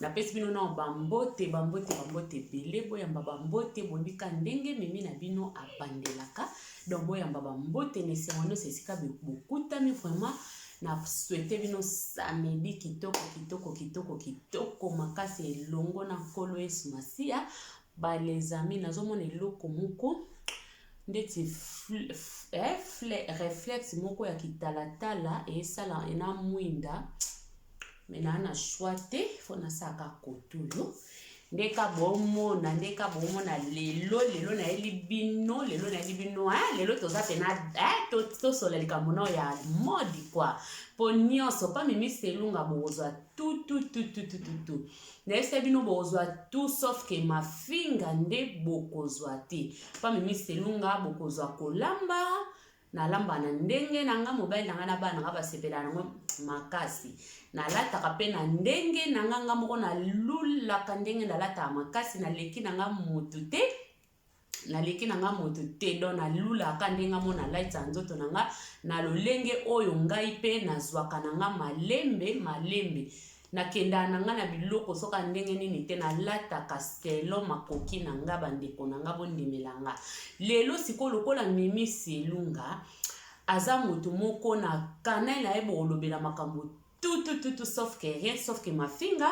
napesi bino nao bambote bambote bambote ebele boyamba bambote bonika ndenge mimi na bino abandelaka donc boyamba bambote na esengo nyonso esika bokutami vraiment na swete bino samedi kitoko kitoko kitoko kitoko makasi elongo na nkolo yesu masiya Ba les amis nazo mona eloko moko ndeti reflex moko ya kitalatala esala ena mwinda me naa na choix te fo nasalaka kote oyo nde ka bomona nde ka bomona lelo lelo nayeli bino lelo nayeli bino e lelo toza pena tosola likambo nao ya modi kua mpo nyonso mpa mimi selunga bokozwa tutututututu Nayebisa bino bokozwa tout sauf que mafinga nde bokozwa te. Pa mimi selunga bokozwa kolamba nalamba na ndenge na nga mobali na nga na bana nga basepela nango makasi nalataka mpe na ndenge na nga nga moko nalulaka ndenge nalataka makasi naleki na nga motu te naleki na nga moto te don nalulaka ndenge amona laita nzoto na nga na lolenge oyo ngai mpe nazwaka na nga malembe malembe nakendaka na nga na biloko soka ndenge nini te nalataka stelo makoki na nga bandeko na nga bondimela nga lelo sikoyo lokola mimi selunga aza moto moko na kanai na ye bokolobela makambo tout tout tout tout sauf que rien sauf que mafinga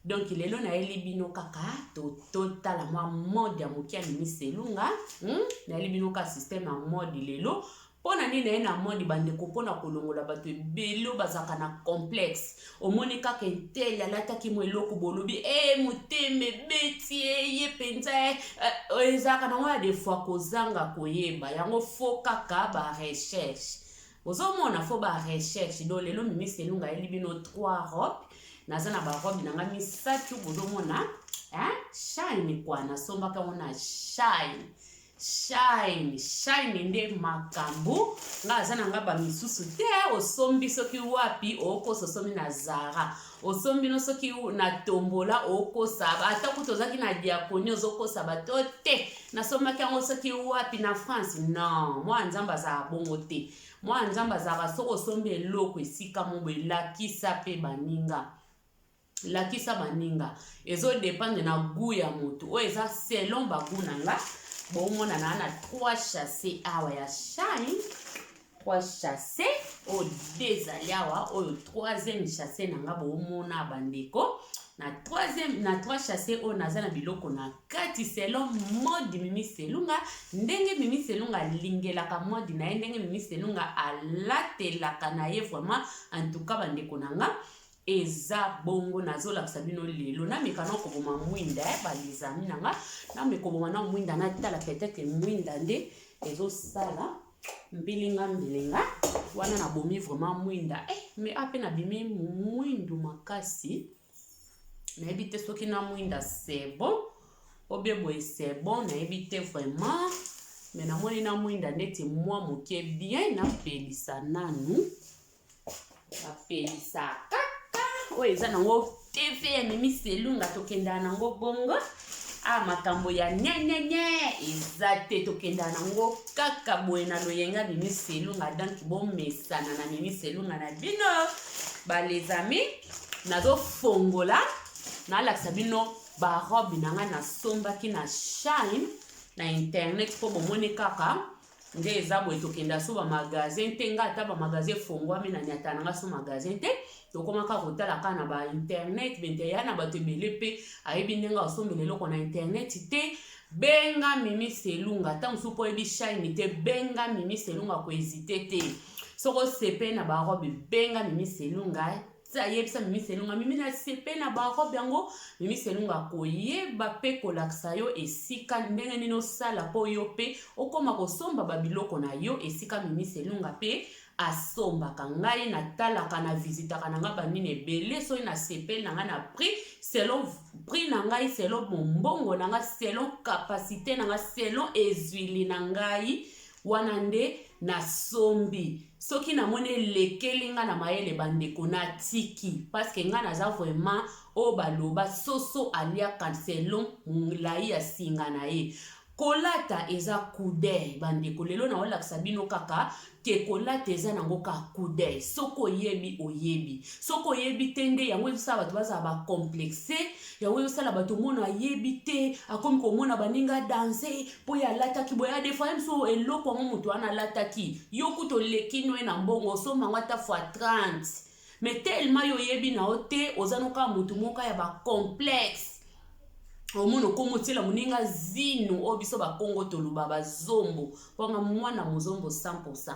donc lelo nayeli bino kaka totala to mwa mode ya moke ya minisi elunga hmm? nayeli bino kaka systeme ya mode lelo mpo na nini naye na mode bandeko mpo na kolongola bato ebele bazalaka na complexe omoni kaka entele alataki mo eloko bolobi e eh, motema ebeti eye eh, mpenza eh, ezalaka nango ya defoi kozanga koyeba yango fo kaka barecherche Ozomona fo ba recherche do lelo mimis elunga ayeli bino trois robe naza na ba robe na nga misatu bozomona hein? shine kwa nasombaka yango na shine shine shine nde makambo nga aza na nga bamisusu te osombi soki wapi okosi osomi na zara osombi no soki na tombola okosa ata kutu ozalaki na diakoni ozokosa bato te nasombaki yango soki wapi na france non mwana nzambe azalaka bongo te mwana nzambe azalaka soki osombi eloko esika mobo elakisa mpe baninga lakisa baninga ezodependre na gu ya motu oyo eza selon bagu na nga bomonana na 3 chasse awa ya shine trois chasse oyo de ezali awa oyo troisième chasse na nga boomona bandeko na troisième na trois chasse oyo naza na biloko na kati selon mode mimi selunga ndenge mimi selunga alingelaka mode na ye ndenge mimi selunga alatelaka na ye vraiment en tout cas bandeko na nga eza bongo nazolakisa bino lelo nameka na koboma mwinda eh, balizami na nga namekoboma na mwinda natala peut-être mwinda nde ezosala mbilinga mbilinga wana nabomi vraiment mwinda eh, me ape nabimi mwindu makasi nayebi te soki na mwinda sebo obie boye sebo nayebi te vraiment me namoni na mwinda ndeti mwa moke bien napelisa nanu bapelisa kaka oyo eza nango tv ememi selunga tokenda nango bongo a ah, makambo ya nyenyenye eza te tokenda nango kaka boye na loyenga mimi selunga donc bomesana na mimi selunga na bino balezami nazofongola nalakisa bino barobe na ngai nasombaki na shine na internet mpo bomoni kaka nde eza boye tokenda so bamagasin te nga ata bamagasin efongwami na nyata na nga so magasin te tokomaka kotala kaka na bainternet bente ya na bato ebele mpe ayebi ndenge akosombela eloko na internet te benga mimi selunga ntango mosusu mpo oyebi shine te benga mimi selunga koezite te soko osepe na barobe benga mimi selunga ti ayebisa mimi selunga mimi na sepe na barobe yango mimi selunga akoyeba mpe kolakisa yo esika ndenge nini osala mpo yo mpe okoma kosomba babiloko na yo esika mimi selunga mpe asombaka ngai natalaka na visitaka na ngai banini ebele soki na sepe na ngai na prix selon prix na ngai selon mombongo na ngai selon kapasite na ngai selon ezwili na ngai Wana nde na sombi soki na moni elekeli nga na mayele ba ndeko na tiki parce que nga naza vraiment oyo ba loba soso aliaka selon mulayi ya singa na ye kolata eza coudeil ba ndeko lelo na olakisa bino kaka ke kolata eza nango ka coudeil soki oyebi oyebi soki oyebi te nde yango ezosala bato bazala ba complexe yango ezosala bato omona ayebi te akomi komona baninga danse mpo ye alataki boye adefoye biso eloko yango moto wana alataki yo kutu oleki noye na mbongo osomba yango ata fois 30 mais tellement yo oyebi na yo te oza noka moto moka ya bacomplexe omona okomi otyela moninga zino oyo biso bakongo toloba bazombo mpona mwana mozombo 100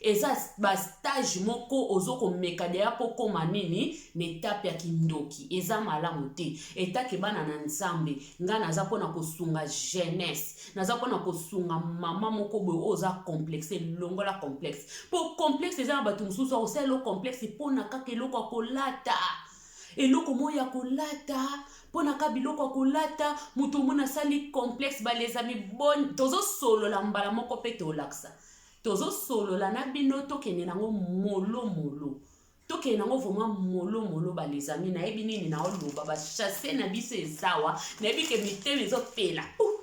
eza ba stage moko ozo komeka deja po koma nini na etape ya kindoki eza malamu te etake bana na nzambe nga naza pona kosunga jeunesse naza pona kosunga mama moko boye oyo oza complexe longola complexe po complexe eza na bato mosusu akosala elo complexe pona kaka eloko ya kolata eloko moyo ya kolata mpona ka biloko ya kolata moto omona asali complexe balezami boni tozosolola mbala moko mpe tolakisa Tozo solola na bino tokende nango molo molo tokende nango vraiment molo molo ba les amis nayebi nini na oloba ba chasse na biso ezawa nayebi ke mitema ezopela uh!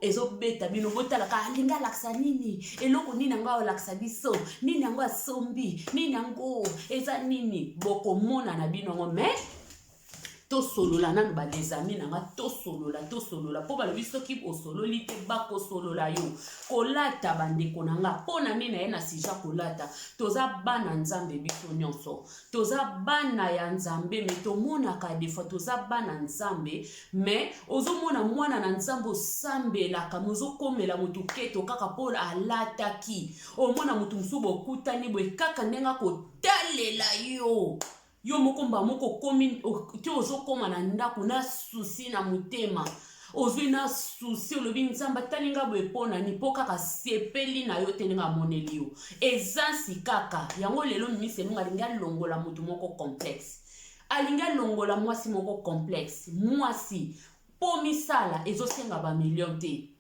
ezobeta bino botalaka alingi ah, alakisa nini eloko nini yango alakisa biso nini yango asombi nini yango eza nini bokomona na bino yango mais tosolola nanu ba des amis na nga tosolola tosolola mpo balobi soki osololi te bakosolola yo kolata bandeko na nga mpo na nini na ye na sija kolata toza bana nzambe biso nyonso toza bana ya nzambe me tomonaka defoi toza bana nzambe me ozomona mwana na nzambe osambelaka me ozokomela motu keto kaka mpo alataki omona motu mosusu bokutani boye kaka ndenge akotalela yo yo moko mbala moko okomi te ozokoma na ndako na susi na motema ozwi na susi olobi nzambe atali nga boye mpo nani mpo kaka asepeli na yo te ndenge amoneli yo eza nsi kaka yango lelo mimisi elonga alingi alongola moto moko complexe alingi alongola mwasi moko complexe mwasi mpo misala ezosenga bamilio te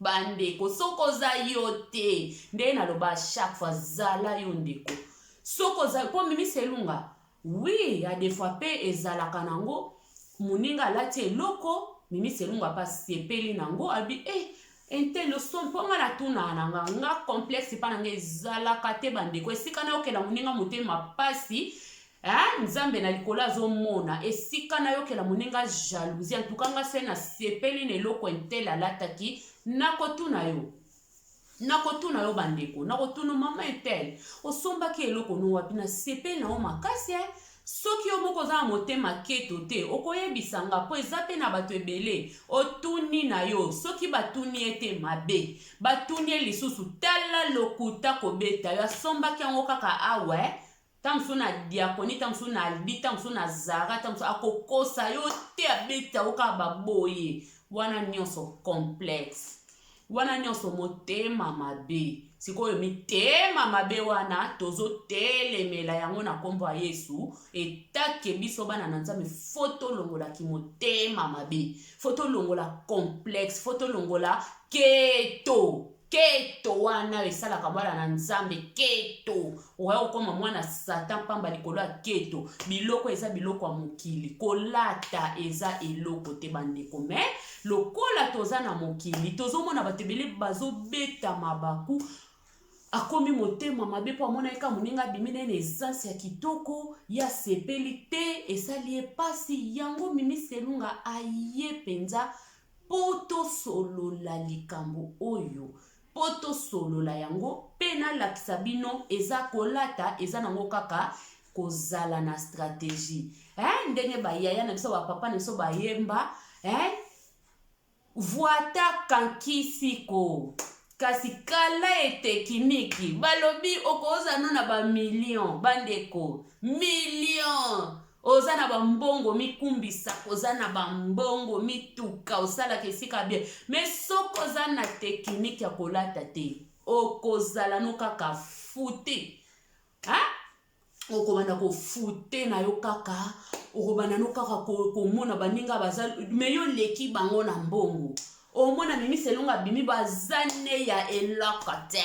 Ba ndeko soki oza yo te ndenge na loba chaque fois zala yo ndeko soki oza po mimi selunga oui ya des fois pe ezalaka nango moninga alati eloko mimi selunga pa sepeli nango abi eh intelo son mpo nga natunaka na nga nga complexe epa na nga ezalaka te bandeko esika nayokela moninga motema mpasi Eh, nzambe na likolo azomona esika nayokela moninga jalousie antuka nga se nasepeli na eloko entele alataki nakotuna yo nakotuna yo bandeko nakotuna mama etele osombaki eloko no wapi nasepeli na yo makasi eh? soki yo moko oza na motema keto te okoyebisa nga mpo eza mpe na bato ebele otuni na yo soki batuni ye te mabe batuni ye lisusu tala lokuta kobeta yo asombaki yango kaka awa eh? tango mosusu na diaconie tango mosusu na albi tango mosusu na zara tango mosusu akokosa yo te abeta yo kaka baboye wana nyonso complexe wana nyonso motema mabe sikoyo mitema mabe wana tozotelemela yango na nkombo ya yesu etake biso bana na nzambe fo tolongola kimotema mabe fo tolongola complexe fo tolongola keto keto wana esalaka bana na nzambe keto okoya kokoma mwana satan mpamba likolo ya keto biloko eza biloko ya mokili kolata eza eloko te bandeko me lokola toza na mokili tozomona bato ebele bazobeta mabaku akomi motema mabe mpo amonaki ka moninga abimi na ye na esansi ya kitoko ya sepeli te esali ye mpasi yango mimi selunga aye mpenza Mpo tosolola likambo oyo, mpo tosolola yango, mpe nalakisa bino eza kolata eza nango kaka kozala na strategie hein, ndenge ba yaya na biso ba papa na biso bayemba hein, vuata kankisi ko kasi kala ete kimiki balobi okoza no na bamillion bandeko million oza na bambongo mikumbisa oza na bambongo mituka osalaka esika bie me soki oza na tekiniki ya kolata te okozala no kaka futi okobanda kofute na yo kaka okobanda no kaka komona baninga baza me yo oleki bango na mbongo omona mimi selonga bimi baza ne ya eloko te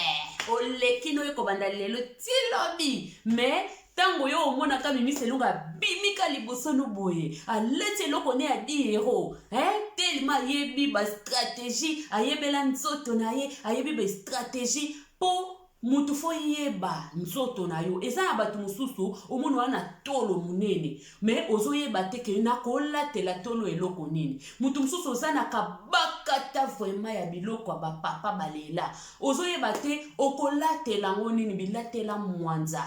oleki no ekobanda lelo ti lobi me ntango yo omonaka mimi selonga abimika liboso no boye aleti eloko ne ya diero eh? telema ayebi bastratégie ayebela nzoto na ye ayebi bastratégie mpo Mutu fo yeba nzoto na yo eza ya batu mususu omoni oa na tolo munene mais ozo yeba te que na ko latela tolo eloko nini mutu mususu oza na kabakata vraiment ya biloko ya ba papa ba lela ozo yeba te oko latela yango nini bilatela mwanza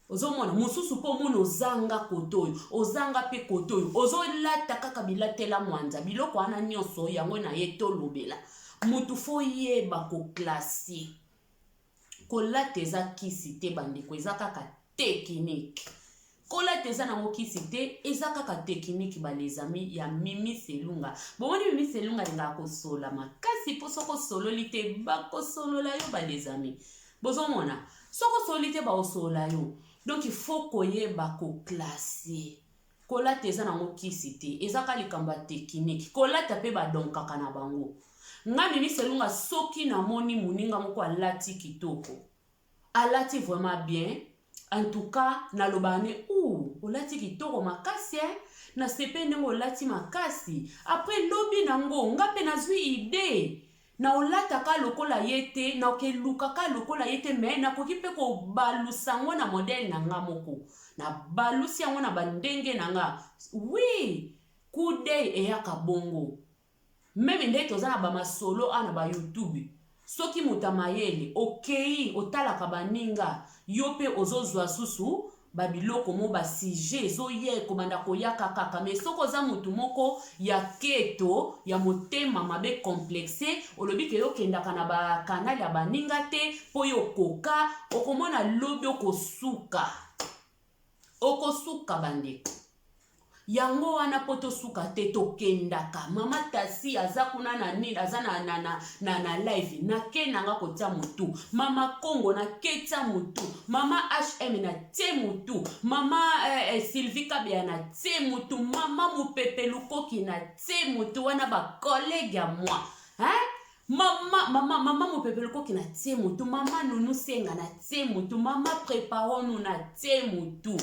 ozo mona mususu po omoni ozanga kote oyo ozanga pe kote oyo ozo lata kaka bilatela mwanza biloko wana nionso yango na ye tolobela mutu fo yeba ko classe Kolata eza kisi te bandeko eza kaka tekiniki. Kolata eza nango kisi te eza kaka tekiniki ba les amis ya Mimi Selunga. Bomoni Mimi Selunga alingaka kosolola makasi mpo soko osololi te bakosolola yo ba les amis. Bozomona soko osololi te bakosolola yo donc il faut koyeba ko classer Kolata eza nango kisi te eza ka likambo ya tekiniki kolata pe ba donkaka na bango nga mimi selunga soki na moni muninga moko alati kitoko alati vraiment bien entouka nalobaka ne ouh olati kitoko makasi eh na sepeli ndenge olati makasi après lobi nango nga pe nazui idee na olata ka lokola ye te na okeluka ka lokola ye te me nakoki mpe kobalusa yango na modele na nga moko nabalusi yango na bandenge na nga wi kudei eyaka bongo meme ndenge toza na bamasolo a na bayoutube soki moto ya mayele okei otalaka baninga yo mpe ozozwa susu ba biloko mo ba sujet ezoya ekobanda koyaka kaka mais soki oza mutu moko ya keto ya motema mabe complexe olobi ke yo kendaka na ba canal ya baninga te po yo okoka okomona lobi okosuka okosuka bandeko Yango wana po tosuka te tokendaka. Mama Tasi aza kuna na nini aza na na na na, na live. Na ke na nga kotia mutu. Mama Kongo na ke tia mutu. Mama HM na tie mutu. Mama eh, eh, Sylvie Kabeya na tie mutu. Mama Mupepe Lukoki na tie mutu wana ba collègue ya moi. Hein? mama mama mama mopepe lokoki na tie motu mama nunu senga na tie motu mama preparonu na tie motu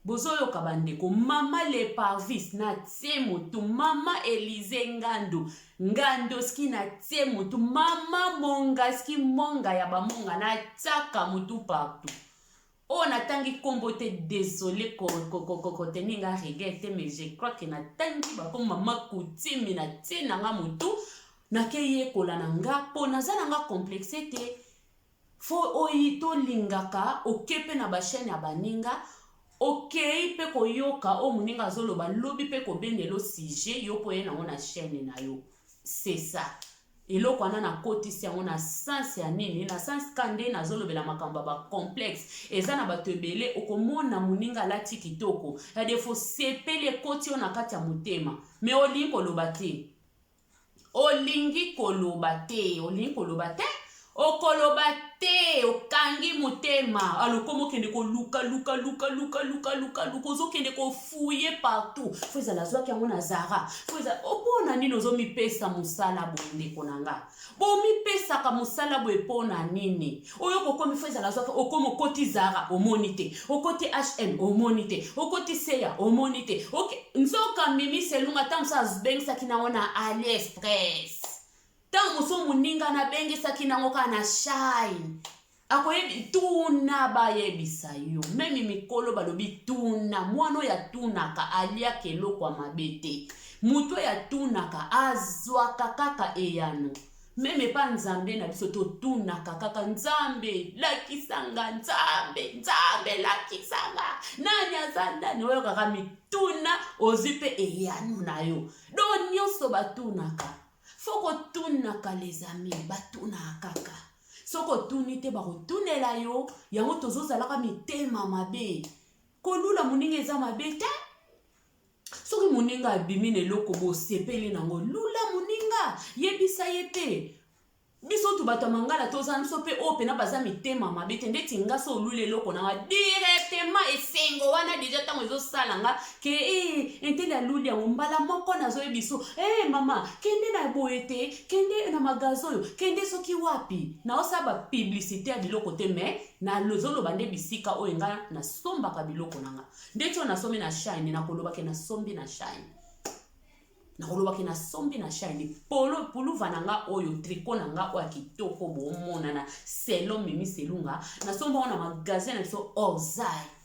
Bozoyoka ba ndeko maman le parvis na tie mutu maman Elise ngandu ngandoski na tie mutu maman mongaski monga ya ba monga na tiaka mutu partout oyo natangi kombo te desole ko ko ko ko te ninga regret te mais je crois que natangi ba kombo maman kutimi na tie nanga mutu nakeyekola na nga po naza nanga complexe te Faut oyi to lingaka oke pe na ba chaine ya baninga okeyi pe ko yoka oyo muninga azo loba lobi pe ko bendelo sujet yo pe oye nango na chaine nayo c'est ça eloko wana na kotisi yango na sens ya nini na sens ka nde nazo lobela makambo ya ba complexe eza na bato ebele oko mona muninga alati kitoko ya defo sepeli ekoti yo na kati ya motema mais olingi ko loba te olingi koloba te olingi koloba te okoloba te okangi motema alokoma okende koluka luka luka luka luka luka luka ozokende kofuye partout fo ezala azwaki yango na zara fo eza opona nini ozomipesa mosala boye ndeko na nga bomipesaka mosala boye mpona nini oyo kokomi fo ezala zwaka okomi okoti zara omoni te okoti hm omoni te okoti seya omoni te okay. nzoka mimi selunga ntango mosusu abengisaki nango na ali express ntango mosusu moninga nabengisaki nango kaka na shine akoyebi tuna bayebisa yo memi mikolo balobi tuna mwana oyo atunaka aliaka eloko ya mabe te moto oyo atunaka azwaka kaka eyano Meme epa Nzambe na biso totunaka kaka Nzambe lakisa nga Nzambe Nzambe lakisa nga nani aza nani oyokaka mituna ozwi mpe eyano na yo do nyonso batunaka fo kotunaka les amis batunaka kaka soki otuni te bakotunela yo yango tozozalaka mitema mabe kolula moninga eza mabe te soki moninga abimi na eloko bosepeli na yango lula moninga yebisa ye te biso tu bato ya mangala tozala biso mpe oyo mpena baza mitema mabe te ndeti nga so oluli eloko na nga directement esengo wana deja ntango ezosala nga ke e entele aluli yango mbala moko nazoye biso e eh, hey, mama kende na boye te kende na magazi oyo kende soki wapi naosala bapiblisite ya biloko te mai nazoloba nde bisika oyo nga nasombaka biloko na nga ndeti oyo nasombi na shine nakoloba ke nasombi na shine nakoloba ke nasombi na shine polo puluva na nga oyo triko na nga oyo ya kitoko bomonana selo mimi selunga nasombi yango na magasin na biso orzai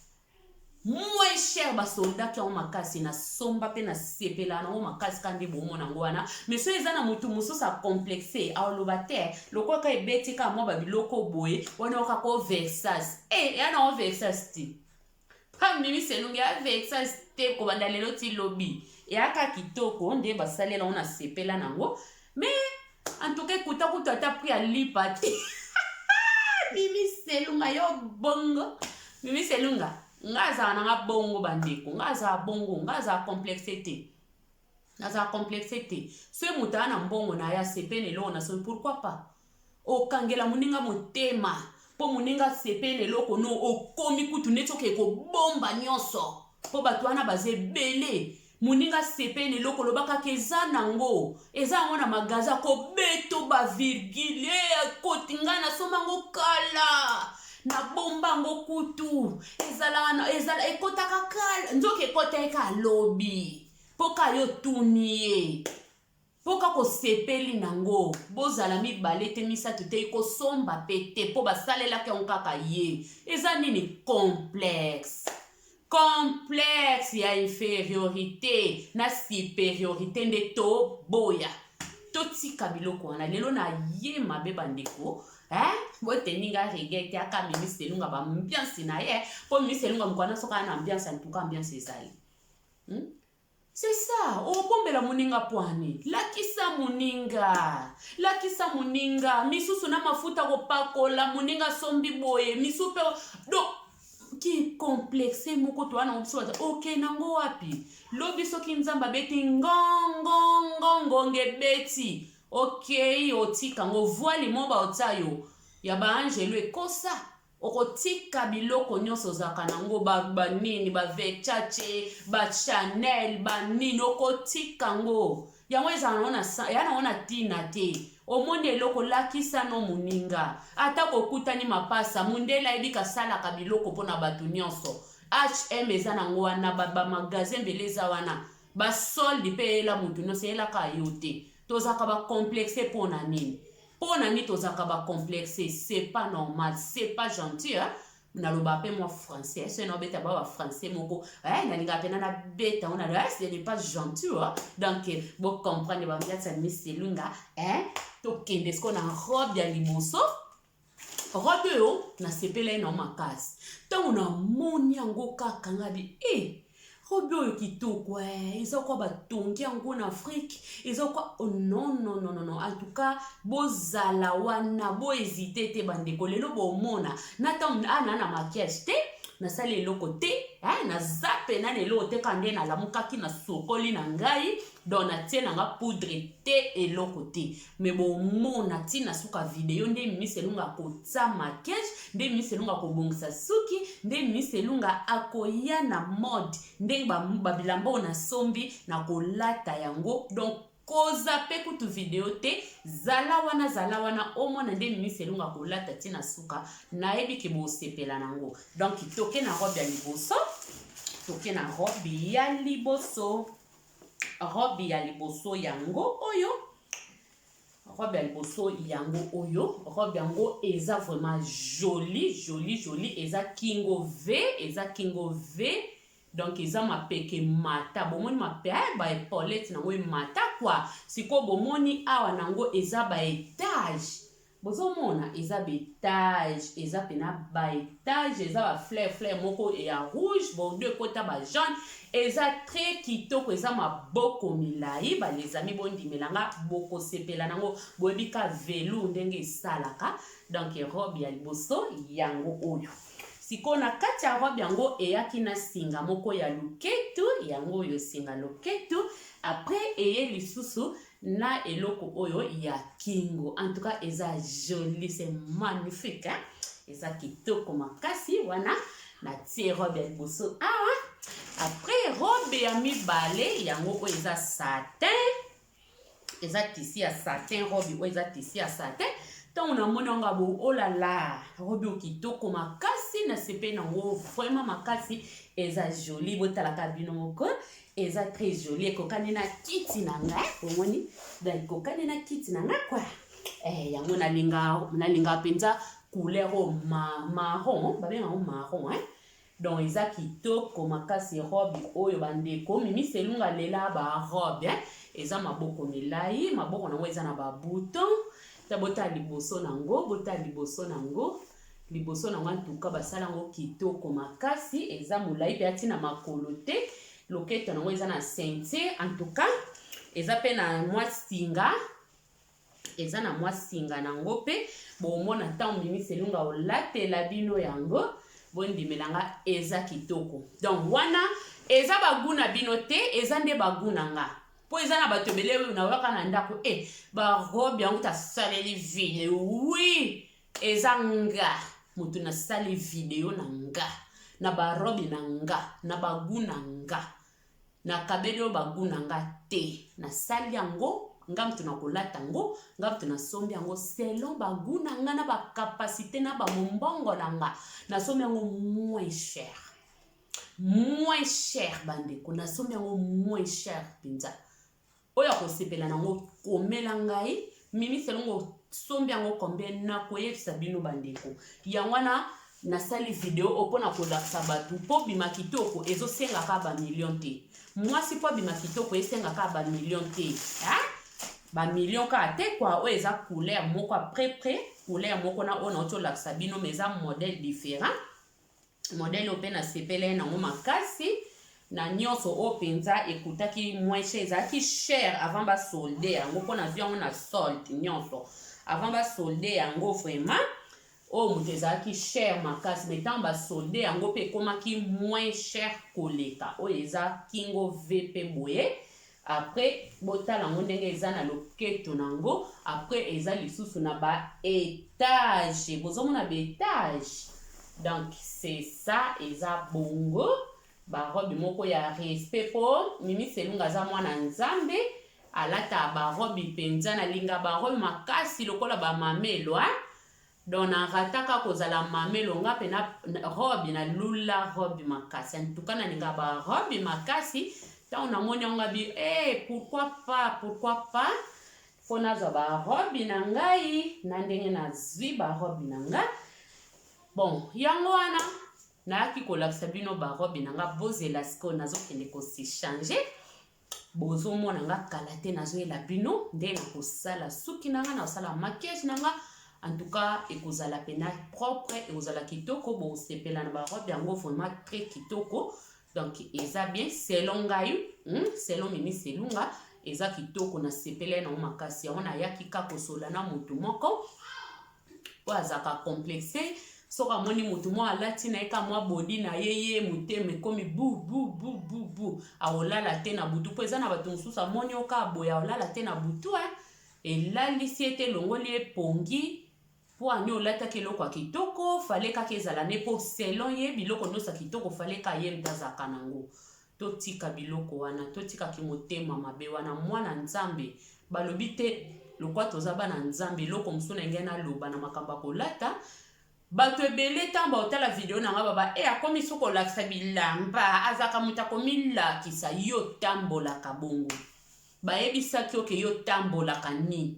moins cher basoldaki yango makasi nasomba mpe nasepela nango makasi kaka nde bomona yango wana mais soki eza na motu mosusu acomplexe aoloba te lokola ka ebeti kaka mwa babiloko boye wana oyoka ko versas e eh, eya nango versas te Comme Mimi Selunge a vexa te kobanda lelo ti lobi. Eyaka kitoko nde basalela ngo na sepela nango. Mais en tout cas ekuta kutu ata prix ya lipa te. Mimi Selunga yo bongo. Mimi Selunga nga azala na nga bongo bandeko nga azala bongo nga azala complexe te. Nazala complexe te. Soki moto aya na mbongo na ye asepeli na eloko nasombi pourquoi pas? Okangela moninga motema mpo moninga asepeli na eloko no okomi kutu neti okei kobomba nyonso mpo bato wana baza ebele moninga asepeli na eloko oloba kaka eza nango eza yango na magaza kobeto bavirgule eh, akoti ngai nasomba yango kala nabomba yango kutu ezala ekotaka kala nzoka ekota ye kalobi mpo kaka yo otuni ye mpo kaka osepeli nango bozala mibale te misato te ekosomba mpe te mpo basalelaki yango kaka ye eza nini complexe complexe ya inferiorité na superiorité nde toboya totika biloko wana lelo na ye mabe bandeko eh? boteni nga rege te aka minis elunga baambiance na ye mpo minis elunga mokwana soki ana ambiance antuka ambiance ezali Hmm? C'est ça, obombela moninga pwani. Lakisa moninga. Lakisa moninga. Misusu na mafuta kopakola moninga sombi boye. Misu pe do ki complexe moko to wana biso bata oke nango wapi lobi soki nzambe abeti ngongongongongo ebeti okei otika ngo voile mo baotya yo ya baangelu ekosa Okotika biloko nyonso ozalaka nango ba ba nini ba Versace, ba Chanel, ba nini okotika ngo. Yango ezala nango na ya nango na tina te. Omoni eloko lakisa no moninga. Ata kokutani mapasa, mundele ayebi kasalaka biloko pona batu nyonso. HM eza nango wana ba ba magasin ebele eza wana. Ba solde pe eyela mutu nyonso eyelaka yo te. Tozalaka ba complexe pona nini? Mpo na nini tozalaka ba complexe? C'est pas normal, c'est pas gentil hein? naloba mpe mwa français soki naobeta ba bafrançais moko eh, nalingaka mpena nabeta ngo nalo eh, ce n'est pas gentil hein? donc bocomprendre bambiati ya miselunga eh, tokende sikoyo na robe ya liboso robe oyo nasepelai na makasi ntango namoni yango kaka ngabi e eh, Robe oyo kitoko eh, eza kwa batongi yango na Afrique, eza kwa oh, non non non non, en tout cas bozala wana, bo hésiter te bandeko, lelo bomona na tango ah, na na maquillage te nasali eloko te eh, naza pena na eloko te kaka nde nalamukaki nasokoli na ngai donc natie na nga poudre te eloko te me bomona ti na suka video nde minis elunga akotya makage nde minis elunga akobongisa suki nde minis elunga akoya na mode ndenge babilamba oyo nasombi na kolata yango donc koza mpe kutu video te zala wana zala wana omona nde minis elunga kolata ti na suka nayebi ke bosepela na yango donc toke na robe ya liboso toke na robe ya liboso robe ya liboso yango oyo robe ya liboso yango oyo robe yango eza vraiment joli joli joli eza kingo v eza kingo v donc eza mapeka emata bomoni mape baepolete nango emata kua sikoyo bomoni awa nango eza baetage Bozo mona eza betage eza pena baetage eza ba fleur fleur moko ya rouge bordeaux ekota ba jaune eza très kitoko eza maboko milayi ba les amis bondimela nga bokosepela nango boyebi ka velour ndenge esalaka donc robe ya liboso yango oyo sikoyo na kati ya robe yango eyaki na singa moko ya loketu yango oyo singa loketu après eye lisusu na eloko oyo ya kingo en tout cas eza jolie c'est magnifique hein? eza kitoko makasi wana natie robe ya liboso awa après robe ya mibale yango oyo eza satin eza tisi ya satin robe oyo eza tisi ya satin ntango namoni yango abo olala oh robe oyo kitoko makasi nasepeli nango vraiment makasi eza joli botalaka bino moko eza très jolie ekokani na kiti na nga omoni da ekokani na kiti na nga kwa eh, yango nalinga nalinga mpenza couleur oyo ma, marron babenga yango marron eh? donc eza kitoko makasi robe oyo bandeko mimi selunga lela barobe eh? eza maboko milai maboko nango eza na babouton ta botala liboso nango botala liboso nango liboso na nga ntuka basala yango kitoko makasi eza molai mpe ati na makolo te loketo yango eza na ceinture en tout cas eza mpe na mwa singa eza na mwa singa na yango mpe bomona ntango mimi selunga olatela bino yango bondimela nga eza kitoko donc wana eza bagu na bino te eza nde bagu na nga mpo eza na bato ebele oyo nayoka na ndako e eh, barobe yango tasaleli vile wi oui. Eza nga mutu na sali video na nga na ba robe na nga na ba gout na nga na kabeli yo ba gout na nga te na sali yango nga mutu na kolata yango nga mutu na sombi yango selon ba gout na nga na ba capacité na ba mombongo na nga na sombi yango moins cher moins cher bandeko nasombi yango moins cher mpenza oyo akosepela nango komela ngai mimi selongo sombi yango combien nakoyebisa bino bandeko yango wana nasali video oyo mpo na kolakisa bato mpo bima kitoko ezosengaka bamillion te mwasi mpo abima kitoko esengaka bamillion te bamillion kaka te kua oyo eza couleur moko apres pre couleur moko na oyo nauti olakisa bino ma eza modèle différent Modèle oyo mpe nasepelai nango makasi na nyonso oyo mpenza ekutaki moins cher ezalaki cher avant ba solde yango mpo nazwi yango na solde nyonso avant ba solde yango vraiment oyo moto ezalaki cher makasi me ntango basolde yango mpe ekomaki moins cher koleka oyo eza kingo v mpe boye Après botala yango ndenge eza na loketo na yango après eza lisusu na ba etage bozo mona ba etage donc c'est ça eza bongo ba robe moko ya respect po mimi selunga aza mwana nzambe alata ba robe mpenza na linga ba robe makasi lokola ba mamelwa Donc na rataka kozala mamelo nga pe na robe na lula robe makasi en tout cas na linga ba robe makasi tango na moni yango abi eh pourquoi pas pourquoi pas faut na zwa ba robe na ngai na ndenge na zwi ba robe na nga bon yango wana nayaki kolakisa bino ba robe na nga bozela sikoyo nazokende ko se changer Bozo mona nga kala te nazo yela bino nde na kosala suki na nga na kosala maquillage na nga en tout cas ekozala pena propre ekozala kitoko bosepela na ba robe yango vraiment très kitoko donc eza bien selon ngai hmm? selon mimi selunga eza kitoko na sepele na makasi yango nayaki ka kosola na motu moko oyo azalaka complexe soki amoni motu mwa alati na ye ka mwa bodi na ye ye motema ekomi bububububu aolala te na butu mpo eza na bato mosusu amoni oka aboya olala te na butu e eh. elalisi ete elongoli epongi mpo ani olataki eloko ya kitoko fale kaka ezala ne mpo selon ye biloko nyonso ya kitoko fale ka ye mpe azalaka nango Totika biloko wana totika kimotema mabe wana mwana nzambe balobi te lokwa toza bana nzambe eloko mosusu na ngai naloba na makambo ya kolata bato ebele ntango baotala video na ngai baba e akomi so kolakisa bilamba azalaka moto akomilakisa yo otambolaka bongo bayebisaki oke yo otambolaka nini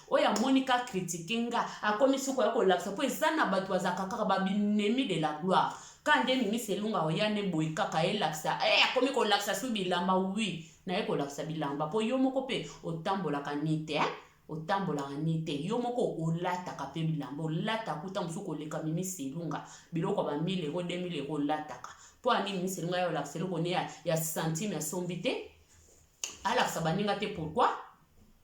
oyo amoni ka kritike nga akomi soki oya kolakisa mpo eza na bato bazalaka kaka babinemi de la gloire ka nde mimisi elonga oya ne boye kaka elakisa e eh, akomi kolakisa su bilamba wi naye kolakisa bilamba mpo yo moko mpe otambolaka ni te eh? otambolaka ni te yo moko olataka mpe bilamba olataka kuta mosusu koleka mimisi elonga biloko ya bamile eko 2000 eko olataka mpo ani mimisi elonga ya olakisa eloko ne ya, ya santime asombi te alakisa baninga te pourkui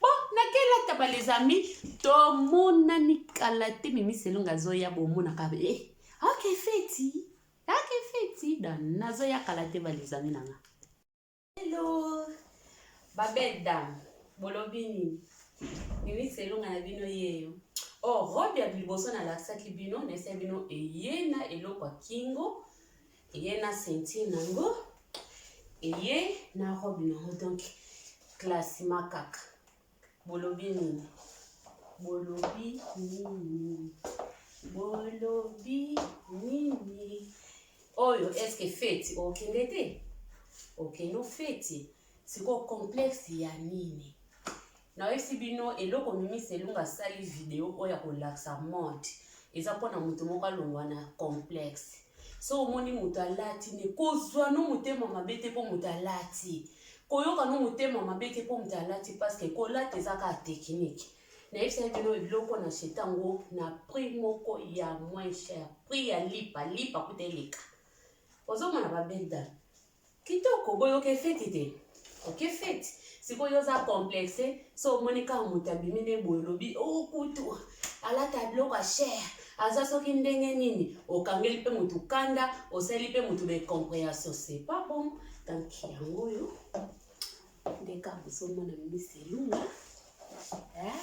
Bon, nakela taba les amis, tomonani kala te mimi selonga azoya bomonaka eh, ok feti ok feti da nazoya kala te ba les amis nanga hello ba belle dame bolobi nini mimi selonga na bino yeyo oh robe ya liboso nalakisaki bino naesai bino eye na eloko ya kingo eye na ceinture na yango eye na robe na yango donc classima kaka bolobi nini bolobi nini bolobi nini oyo eske feti okende te okende ofeti sikoyo complexe ya nini Nayebisi bino eloko mimi selunga asali video oyo ya kolakisa mode eza mpo na moto moko alongwa na complexe so omoni moto alati ne kozwa no motema mabe te mpo moto alati koyoka no motema mabe te mpo moto alati parceke kolata eza kaka tekinike nayebisaki bino eloko na chete yango na prix moko ya moins cher prix ya lipa lipa kuta eleka ozomona babelda Kitoko boye oke fete te. Oke fete. Sikoyo oza complexe so omoni kaka moto abimi nde boye olobi o oh, kutu alata biloko ya cher aza soki ndenge nini okangeli mpe moto kanda osali mpe moto na comprehension c'est pas bon donc yango oyo nde kaka bozomona misi elunga eh?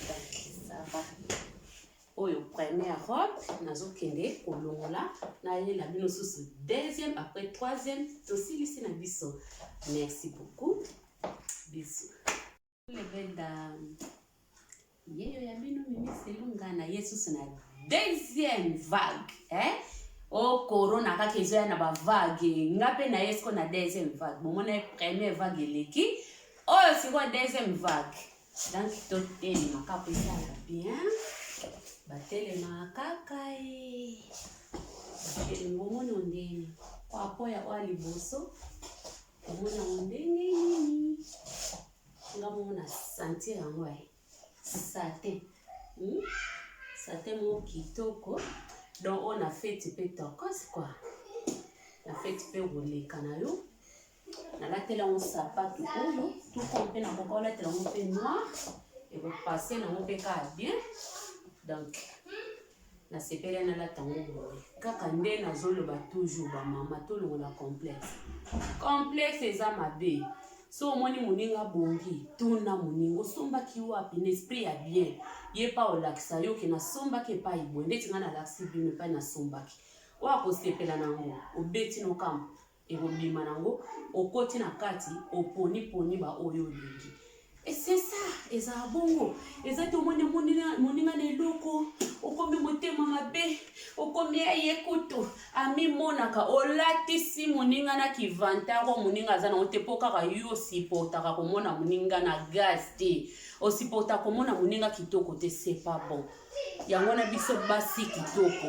donc ça va Oyo première robe nazo kende kolongola na ye na bino susu deuxième après troisième tosilisi na biso. Merci beaucoup. Bisous. Les belles dames. Yeyo ya bino mimi selunga na ye susu na deuxième vague. Hein? o oh, corona kaka ezoya na bavague nga mpe na ye siko na deuxième vague bomona ye première vague eleki oyo sikoyo deuxième vague Donc totelema kaka ezala bien batelema kaka ye batelema omoni ondeni kwapo ya oya liboso omoni yango ndenge nini nga moko na sentir yango ye sate hmm? sate moko kitoko donc oyo na feti mpe tokos kua na feti mpe koleka na yo nalatela yango sapatu oyo tuko mpe nakoka olatela yango mpe noir ekopase nango mpe kaka bien donc nasepeli nalata yango boye kaka nde nazoloba toujours bamama tolongola complexe complexe eza mabe so omoni moninga abongi tuna moninga osombaki wapi na esprit ya bien ye pa olakisa yo ke nasombaki epai boye ndeti ngai nalakisi bino epai nasombaki oyo akosepela nango obeti nokambo ekobima nango okoti na kati oponi poni ba oyo olingi esesa ezala bongo eza te omoni moninga na eloko okomi motema mabe okomi eye kutu amimonaka olatisi moninga na kivantaro moninga aza nango te mpo kaka yo osipotaka komona moninga na gaz te osipota komona moninga kitoko te sepa bon yango wana biso basi kitoko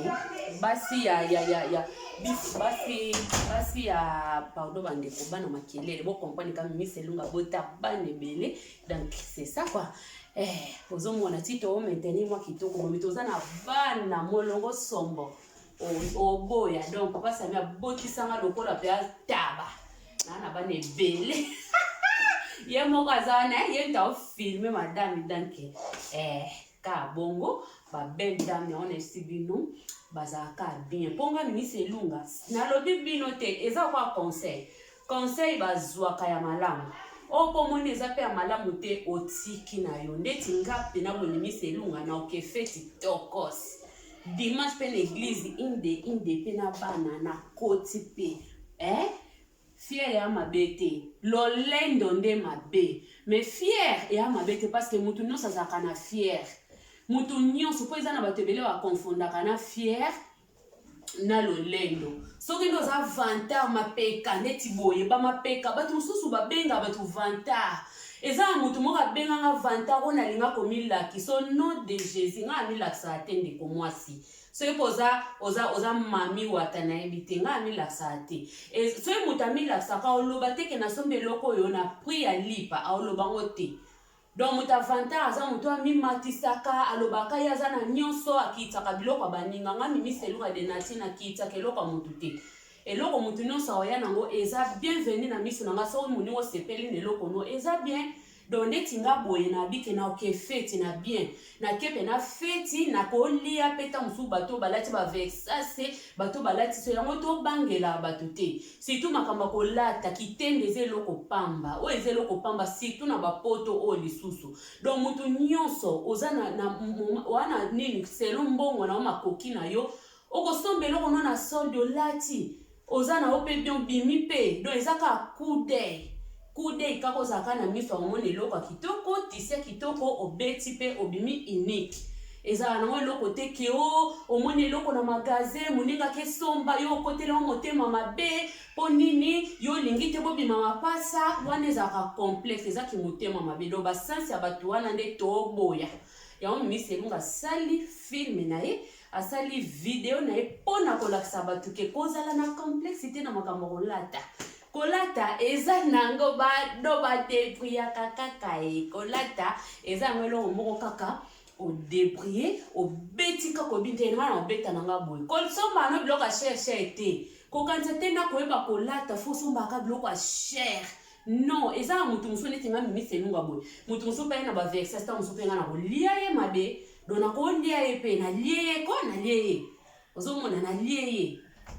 basi ya, ya, ya, ya basi basi ya pardon bandeko bana makelele bocomprane ka mimis elunga bota bana ebele donc c'est ça quoi eh, ozomona ti to maintenir mwa kitoko bomi toza na bana molongo sombo oboya donc papa sami abotisanga lokola mpe ataba naa na bana ebele ye moko aza wana ye nta ofilme madame danke eh. ka bongo ba belle dame yango na esi bino bazalaka bien mpo nga minisi elunga nalobi bino te eza kwa conseil conseil bazwaka ya malamu oyo mpo omoni eza mpe ya malamu te otiki na yo ndeti nga mpe na bominisi elunga na oke feti tokos dimanche mpe na eglize inde inde mpe na bana na koti mpe eh? Fier ea mabe te. Lolendo nde mabe. Mais fier ea mabe te parce que mutu nionso azalaka na fier. Mutu nionso po eza na batu ebele ba confondaka na fier na lolendo. Soki nde oza vantard mapeka neti boye ba mapeka batu mususu ba benga batu vantard. Eza na mutu moko abenga nga vantard ona linga ko milakisa au nom de Jesus nga na milakisaka te ndeko muasi. soki mpe oza oza oza mami wata nayebi te ngai amilakisaka te e, soki moto amilakisaka oloba te ke nasombi eloko oyo na prix ya lipa aoloba ngo te donc moto avantar aza moto amimatisaka alobaka ye aza na nyonso akiitaka biloko ya baninga ngai mimiseluka de nati nakiitaka eloko ya moto te eloko moto nyonso aoya nango eza bienvenu na miso na ngai soki moninga osepeli na eloko no eza bien Donc neti nga boye na bike na oke feti na bien na ke pe na feti na ko lia pe ta musu bato balati ba vexase bato balati so yango to bangela bato te surtout makamba ko lata kitende eza eloko pamba oyo eza eloko pamba surtout na ba poto oyo lisusu donc mutu nionso oza na, na wana nini selon mbongo na yo makoki na yo okosomba eloko no na solde olati oza na yo mpe donc bimi mpe donc eza kaka coup d'oeil coup d'oeil kaka ozala kaka na miso ya komona eloko ya kitoko tisi ya kitoko obeti mpe obimi unique ezala nango eloko te ke o oh, omoni eloko na magaze moninga kesomba yo okoteli yango motema mabe mpo nini yo olingi te bobima mapasa wana ezalaka complexe eza kimotema mabe do basense ya bato wana nde toboya yango mimi selunga asali filme na ye asali video na ye mpo na kolakisa bato ke kozala na complexe te na makambo kolata kolata eza nango badoba te priyaka kaka ye kolata eza yango eloko moko kaka odebrie obeti kaka oyebi nte nga na obeta na nga boye kosomba no biloko ya shere shere te kokanisa te na koyeba kolata fo osombaka biloko ya shere non eza na moto mosusu neti nga mimisi elunga boye moto mosusu mpe ye na baverse sta mosusu mpe nga na kolia ye mabe donc nakolia ye mpe nalie ye ko nalie ye ozomona nalie ye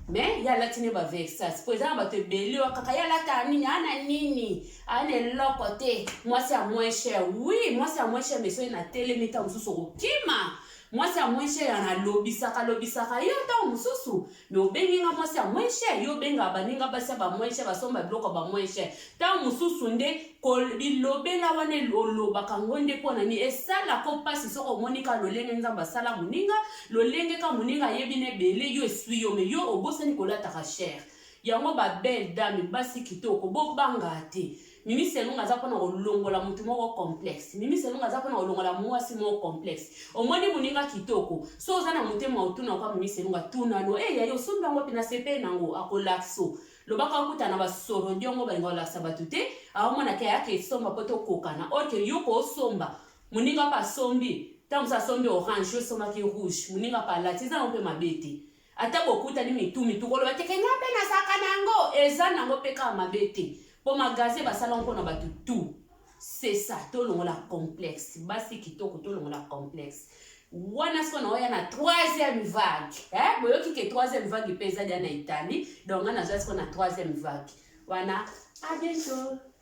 mais ye alati nde bavexas mpo eza na bato ebele oyo kaka ye alata nini ana nini ana eloko te mwasi ya moins cher wi mwasi ya moins cher meso ye natelemi ntango mosusu okokima mwasi ya moins cher ana alobisaka alobisaka yo ntango mosusu me obengi nga mwasi ya moins cher yo obengaka baninga basi ya ba moins cher basomba biloko ya ba moins cher ntango mosusu nde bilobela wana olobaka ngo nde mpo na nini esalaka o mpasi soki omoni ka lolenge nzambe asala moninga lolenge ka moninga ayebi na ebele yo eswi yo me yo obosani kolataka cher yango ba belle dame basi kitoko bobanga te Mimi Selunga aza pona kolongola mutu moko complexe. Mimi Selunga aza pona kolongola mwasi moko complexe. Omoni muninga kitoko. So oza na motema otuna kwa Mimi Selunga tuna no eh yayo osombi yango wapi na sepeli na ngo akolakso. Loba ka okuta na ba sorodiongo balinga kolakisa batu te. Aomona ke ayaka esomba po tokokana. Or ke yo ko osomba. Muninga pe asombi. Tango mosusu asombi orange yo osombaki rouge. Muninga pe alati eza na ngo pe mabe te. ata bokutani mitu mitu koloba te ke nga mpe nazalaka na yango eza na yango mpe kaka mabe te mpo magasin basala mpo na bato tout c'est ça tolongola complexe basi kitoko tolongola complexe wana siko naoya na troisième vague eh? boyoki ke troisième vague mpe eza dia na italie donc nga nazwa siko na troisième vague wana abiento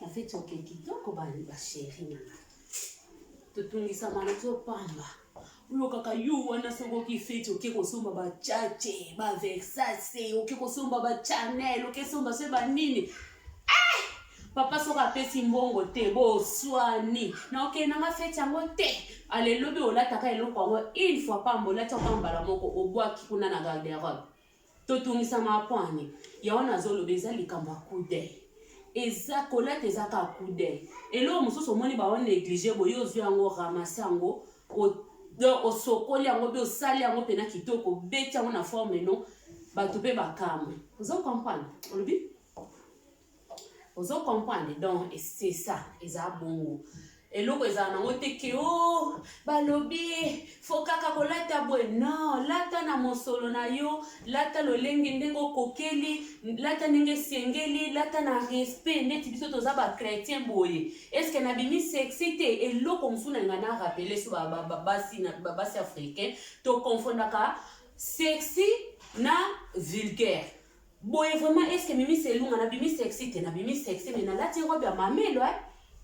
Na feti oke kitoko ba ba cherie na nga. Totungisama na zo pamba. Olokaka yo wana soki oki feti oke kosomba ba chache, ba Versace, oke kosomba ba Chanel, oke somba se ba nini. Eh! Papa soki apesi mbongo te, boswani. Na oke na nga feti yango te. Alelobi olataka eloko yango une fois pamba, olati yango mbala moko, obwaki kuna na garde-robe. totungisa makwani ya wana azoloba eza likambo ya kude eza kolata eza kaka kude eloko mosusu omoni bao neglige boye ozwi yango ramase yango donc osokoli yango mpe osali yango mpena kitoko obeti yango na forme no bato mpe bakamwe ozo comprendre olobi ozo comprendre donc c'est ça eza bongo eloko ezala nango te ke o oh, balobi fo kaka kolata boye non lata na mosolo na yo lata lolenge ndenge okokeli lata ndenge esengeli lata na respect ndeti biso toza bachrétien boye estce nabimi sexi te eloko mosusu na ngai na rappele so babasi africain toconfondaka sexi na vulgaire Boye vraiment est-ce que mimi selunga na bimi sexy te na bimi sexy mais nalati robe ya mamelo eh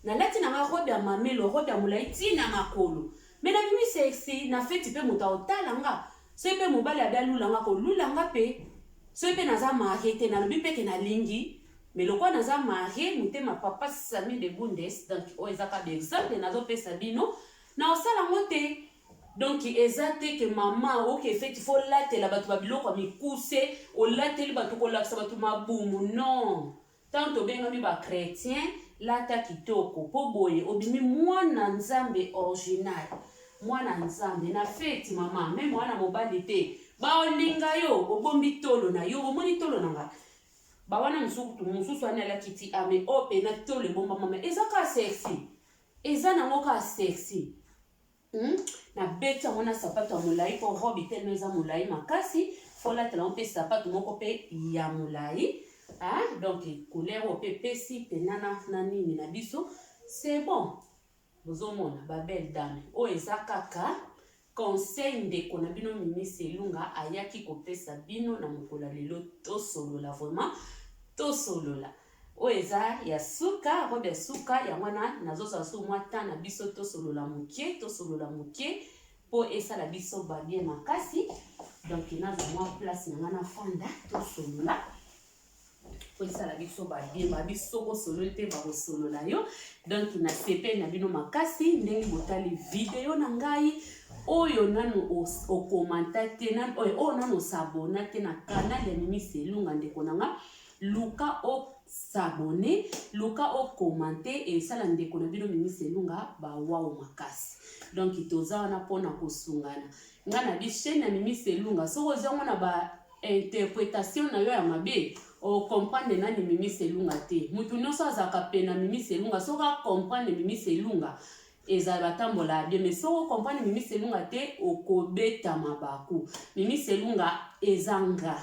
nalati na nga robe ya mamelo robe ya molai ti na makolo mais na bimi sexy na feti pe moto aotala nga soki pe mobali abi alula nga kolula nga pe soki pe naza marie te nalobi pe ke nalingi mais lokola naza marie motema papa sami de bundes donc oyo ezaka ba exemple nazopesa bino na osala ngo te Donc eza te que maman oke feti faut latela batu ba biloko ya mikuse, olateli batu kolakisa batu mabumu non. Tango tobengami ba chretiens lata kitoko po boye obimi mwana nzambe orginal. Mwana nzambe na feti maman meme wana mobali te baolinga yo obombi tolo na yo bomoni tolo na nga bawana mosusu mosusu ani alakiti ame oyo mpena tolo ebombamama eza ka sexy eza nango ka sexy Hum na beti yango na sapato ya molayi po robe telema eza molayi makasi faut latela yango pe sapato moko pe ya molayi ah donc couleur oyo pe epesi pena na, na nini na biso c'est bon bozomona ba belle dame oyo eza kaka conseil ndeko na bino mimi selunga ayaki kopesa bino na mokolo ya lelo tosolola vraiment tosolola Oyo eza ya suka robe ya suka yango wana nazozwa su mwa temps na biso tosolola moke tosolola moke mpo esala biso babien makasi donc nazwa mwa place na ngai nafanda tosolola mpo esala biso babien babi soko osololi mpe bakosolola yo donc na sepele na bino makasi ndenge botali video na ngai oyo nanu okomanta te oyo nanu osabona te na kanal ya mimi selunga ndeko na ngai Luka o s'abonner, luka o commenter et sala ndeko na bino Mimi Selunga ba wow makasi. Donc toza wana pona kosungana. Nga na bi chaîne ya Mimi Selunga soki ozwi yango na ba interpretation na yo ya mabe o comprendre nani Mimi Selunga te. Mutu nionso azalaka pena Mimi Selunga soki a comprendre Mimi Selunga ezala batambola bien mais soki okomprendre mimi selunga te okobeta mabaku mimi selunga eza nga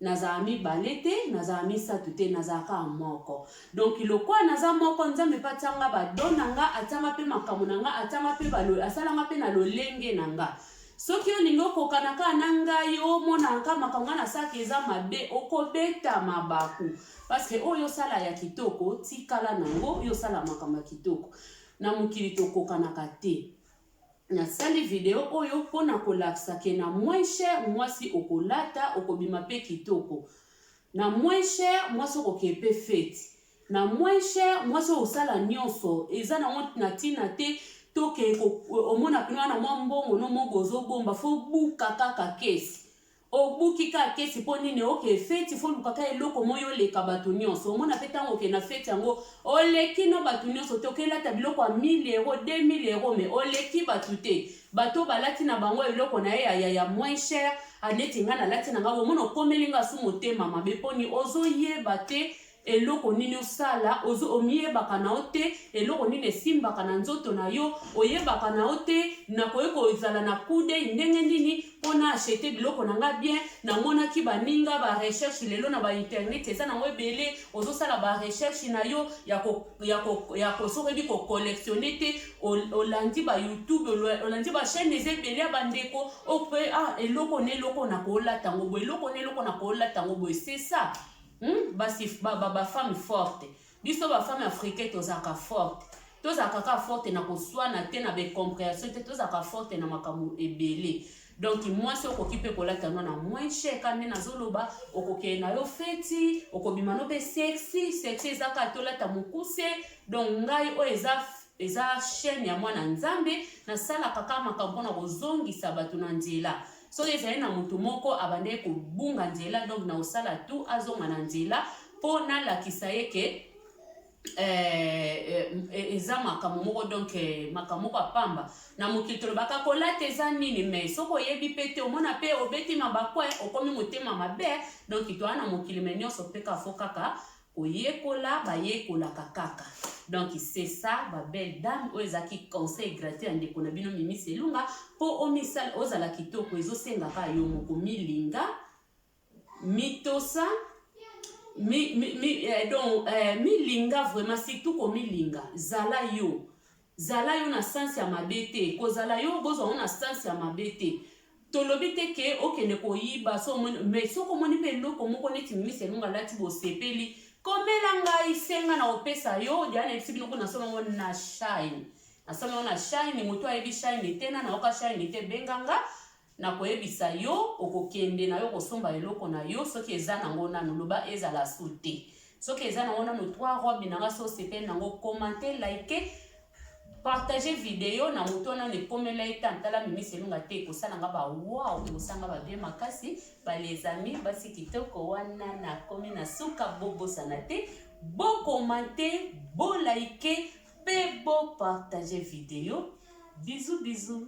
Nazala mibale te, nazala misato te, nazala kaka moko. Donc lokola naza moko, Nzambe mpe atia nga ba don na nga, atia nga mpe makambo na nga, atia nga mpe ba asala nga mpe na lolenge na nga. Soki olingi okokana kaka na ngai, omonaka kaka makambo ngai nasalaka eza mabe, okobeta mabaku. Parce que oyo osala ya kitoko, tikala na yango, yo osala makambo ya kitoko. Na mokili tokokanaka te. Nasali video oyo po na kolakisa ke na moins cher mwasi okolata okobima pe kitoko, na moins cher mwasi okoke pe feti, na moins cher mwasi okosala nionso eza nango na tina te toke omona pena na mwa mbongo no moko ozobomba fo obuka kaka kesi Obuki ka kesi po nini oke feti fo luka ka eloko moyi oleka batu nionso omona pe tango oke na feti yango oleki no batu nionso te oke lata biloko ya 1000 euro 2000 euro mais oleki batu te batu oyo balati na bango eloko na ye ya ya ya moins cher a neti nga na lati na nga bomona okomeli nga su motema mabe poni ozo yeba te eloko nini osala ozo omiyebaka na yo te eloko nini esimbaka na nzoto na yo oyebaka na yo te nakoki kozala na kudei ndenge nini mpo na achete biloko na nga bien namonaki baninga barecherche lelo na bainternet eza nango ebele ozosala barecherche na yo ya kosokoki kocollectionne te olandi bayoutube olandi bachaine eza ebele ya bandeko ope ah, eloko na eloko nakolata yango boye eloko na eloko nakolata yango boye sesa Hum basi ba ba ba femme forte biso ba femme africain tozalaka forte tozalaka kaka forte na koswana te na ba comprehension te tozalaka forte na makambo ebele donc mwasi okoki mpe kolata no na moins cher ka nde nazoloba okokende na yo feti okobima no mpe sexy sexy eza kaka tolata mokuse donc ngai oyo eza eza chaîne ya mwana nzambe nasalaka kaka makambo mpona kozongisa bato na nzela Soki ezali na moto moko abandaki kobunga nzela, donc na osala tu azonga na nzela mpo nalakisa ye ke eh, eh, eza makambo moko donc eh, makambo moko ya pamba na mokili tolobaka kolata eza nini me soki oyebi mpe te omona mpe obeti mabakwe okomi motema mabe donc toa na mokili me nyonso mpe kafo kaka Koyekola bayekolaka kaka. Donc c'est ça ba belle dame oyo ezaki conseil gratuit ya ndeko na bino Mimi Selunga po omisala ozala kitoko ezosenga ka yo moko milinga mitosa mi, mi, mi, eh, donc eh, milinga vraiment surtout komilinga zala yo Zala yo na sens ya mabe te kozala yo bozwa ngo na sens ya mabe te tolobi te ke okende koyiba so omoni mais soki omoni mpe eloko moko neti mimis elongo alati bosepeli komela ngai senga na kopesa yo dia nayebisi bino kuna nasolo ngo na shine nasolo ngo na shine moto ayebi shine te na nayoka shine te benga nga Nakoyebisa yo, okokende na yo kosomba eloko na yo, soki eza na ngo nanu, loba ezala su te. Soki eza na ngo nanu, trois robe na nga, so osepeli na ngo, commente, like, partage video na moto wana, ekomela ye tan, tala mimisi elunga te, ekosala nga ba wow, ekosala nga ba bien makasi, ba les amis, basi kitoko wana, nakomi na suka, bobosana te, bo commente, bo like, pe bo partager video bisous bisous.